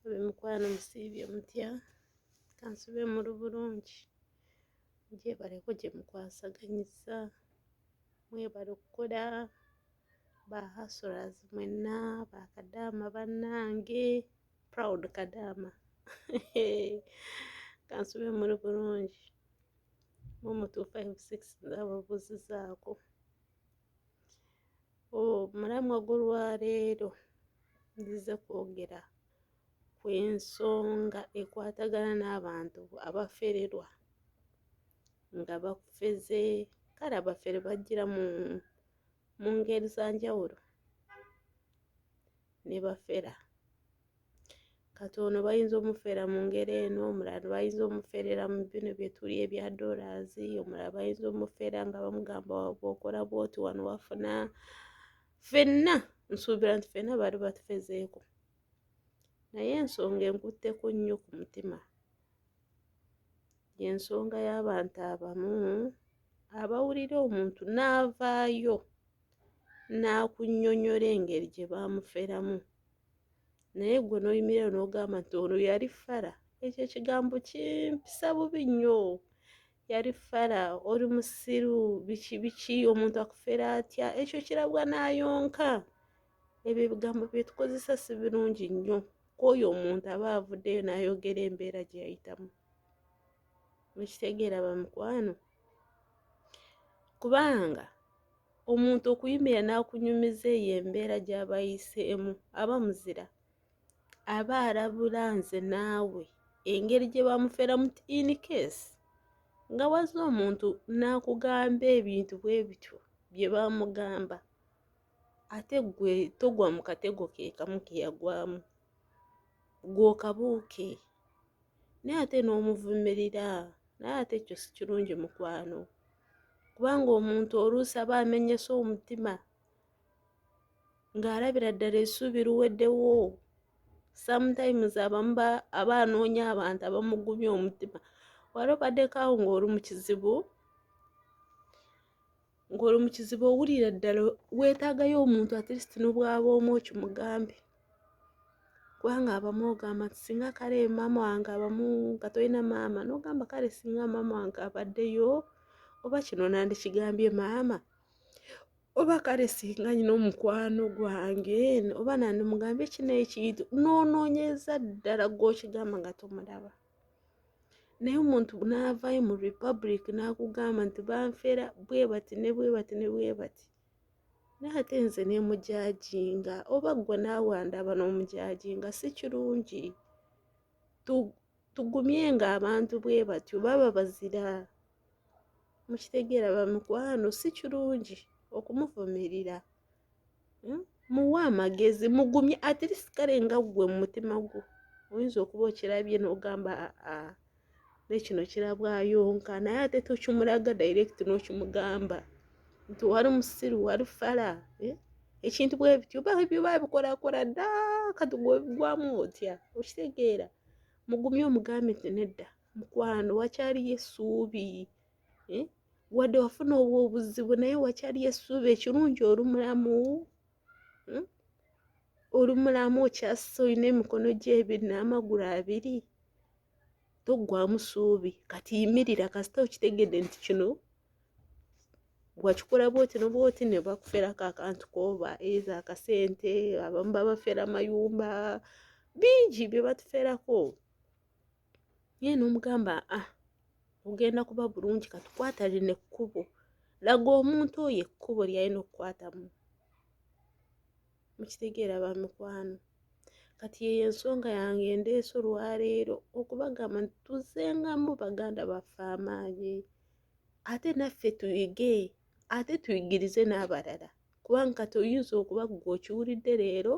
Abemikwano musiibye mutya kansube muli bulungi gyebaleko gyemukwasaganyizza mwebale okukola ba hustlers mwenna ba kadaama bannange proud kadaama hee kansube muli bulungi mum two five six nze abo buuzizaako. omulamwa gw'olwaleero nzize kwogera ku ensonga ekwatagana n'abantu abafererwa nga bafeze kale abafere bajjira mu mu ngeri za njawulo ne bafera kati ono bayinza omufera mu ngeri eno omulala bayinza omuferera mu bino byetuli ebya dollars omulala bayinza omufera nga bamugamba okola bwoti wano wafuna fenna nsuubira nti fenna bali batufezeeko naye ensonga enkutteko nnyo ku mutima yensonga y'abantu abamu abawulira omuntu n'avaayo n'akunyonyola engeri gye baamuferamu naye gwe noyimirira nogamba nti ono yali fara ekyo ekigambo kimpisa bubi nnyo yali fara oli musiru biki biki omuntu akufera atya ekyo kirabwa nayonka ebyo ebigambo byetukozesa si birungi nnyo kwoyo omuntu aba avuddeyo nayogera embeera gye yayitamu mukitegeera bamukwano kubanga omuntu okuyimirira n'akunyumiza eyo embeera gy'aba ayiseemu aba muzira aba alabula nze naawe engeri gye bamuferamu ti in case nga wazze omuntu n'akugamba ebintu bwe bityo bye bamugamba ate gwe togwa mu katego ke kamu ke yagwamu gw'okabuuke naye ate n'omuvumirira naye ate ekyo si kirungi mukwano kubanga omuntu oluusi aba amenyese omutima ng'alabira ddala essuubi luweddewo sometimes abamu aba anoonya abantu abamugumya omutima wali obaddeko awo ng'oli mu kizibu ng'oli mu kizibu owulira ddala weetaagayo omuntu at least n'obwaba omu okimugambe kubanga abamu ogamba nti singa kale maama wange abamu nga tolina maama nogamba kale singa maama wange abaddeyo oba kino nandikigambye maama oba kale singa nyina omukwano gwange oba nandimugambye kino ekintu nonoonyeza ddala gwokigamba nga tomulaba naye omuntu naavayo mu republic nakugamba nti banfera bwebati ne bwebati ne bwebati naye ate nze nemujajinga oba gwe naawe andaba nomujajinga si kirungi tugumye nga abantu bwe batyo baba bazira mukitegeera bamikwano si kirungi okumuvumirira hmm? muwe amagezi mugumye atirisikalenga ggwe mu mutima gwo oyinza okuba okirabye n'ogamba aa nekino kirabwayo nka naye ate tokimulaga direct nokimugamba nti wali musiru wali fala eh? ekintu bwebityo byo babikorakora da kati gwebigwamu otya okitegeera mugumye omugambe nti nedda mukwano wakyaliyo essuubi eh? wadde wafuna obwo obuzibu naye wakyaliyo essuubi ekirungi oli mulamu hmm? oli mulamu okyasa olina emikono gyo ebiri n'amagulu abiri toggwamu suubi kati yimirira kasita okitegedde nti kino wakikola bwoti nobwoti ne bakuferako akantu koba eza akasente abamu babafera amayumba bingi bye batuferako ye nomugamba a ah, ogenda kuba bulungi katukwata lino ekkubo laga omuntu oyo ekkubo lyalina okukwatamu mukitegeera ba mikwano kati yeyo ensonga yange endeese olwaleero okubagamba nti tuzengamu baganda baffe amaanyi ate naffe tuyige ate tuyigirize n'abalala kubanga kati oyinza okuba gwe okiwulidde leero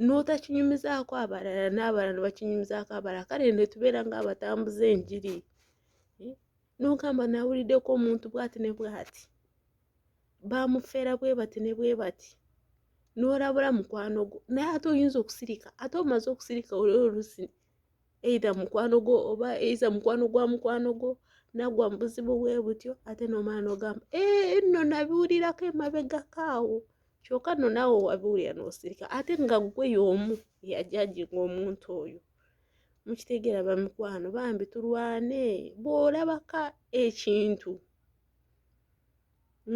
n'otakinyumizaako abalala n'abalala ne bakinyumizaako abalala kale ne tubeera ng'abatambuza enjiri nogamba nawuliddeko omuntu bwati ne bwati bamufera bwe bati ne bwe bati n'olabula mukwano gwo naye ate oyinza okusirika ate omaze okusirika oli olusi eitha mukwano gwo oba eitha mukwano gwa mukwano gwo nagwa mubuzibu bwe butyo ate nomala nogamba eh, nno nabiwulirako emabegako awo kyoka nno naawe wabiwulira nosirika ate nga gwe yomu eyajajinga omuntu oyo mukitegeera bamikwano bambi tulwane bw'olabaka ekintu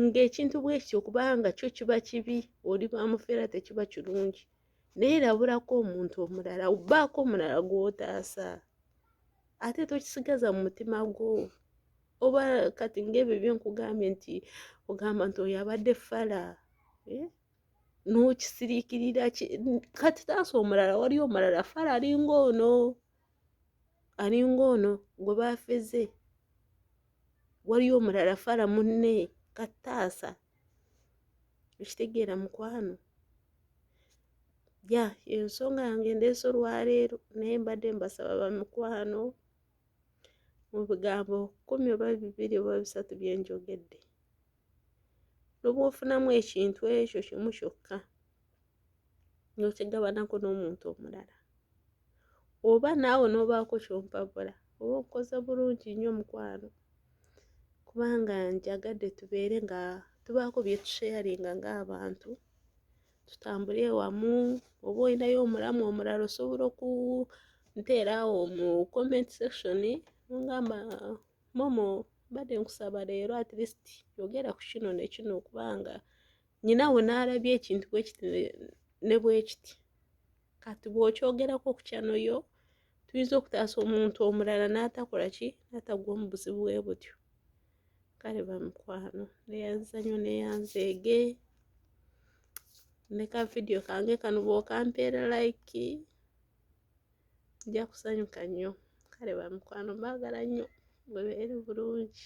ng'ekintu bwekityo okubanga kyo kiba kibi oli bamufeera tekiba kirungi naye labulako omuntu omulala obaako omulala gw'otaasa ate tokisigaza mu mutima gwo oba kati ng'ebyo byenkugambye nti ogamba nti oyo abadde fala eh? nokisirikirira kati taasa omulala wali omulala fala alinga ono alinga ono gwe bafeze waliyo omulala fala munne kataasa ekitegeera mukwano ya ensonga yange ndeese olwaleero naye mbadde mbasaba bamukwano mu bigambo kumi oba bibiri oba bisatu byenjogedde noba ofunamu ekintu ekyo kimu kyokka nokigabanako n'omuntu omulala oba naawe nobaako kyompabula oba okoze bulungi nnyo mukwano kubanga njagadde tubeere nga tubaako byetusheyaringa ng'abantu tutambule wamu oba olinayo omulamu omulala osobola oku nteera awo mu comment section mungamba momo mbadde nkusaba leero at least yogera ku kino nekino kubanga nyina we naalabye ekintu bwekiti ne bwekiti kati bwokyogerako okukyanoyo tuyinza okutaasa omuntu omulala n'atakola ki n'atagwa mu buzibu bwe butyo kale bamikwano neyanzanyo neyanzeege ne ka vidiyo kange kano bwokampeera like nja kusanyuka nnyo kale bamikwano mbagala nnyo mwebeere bulungi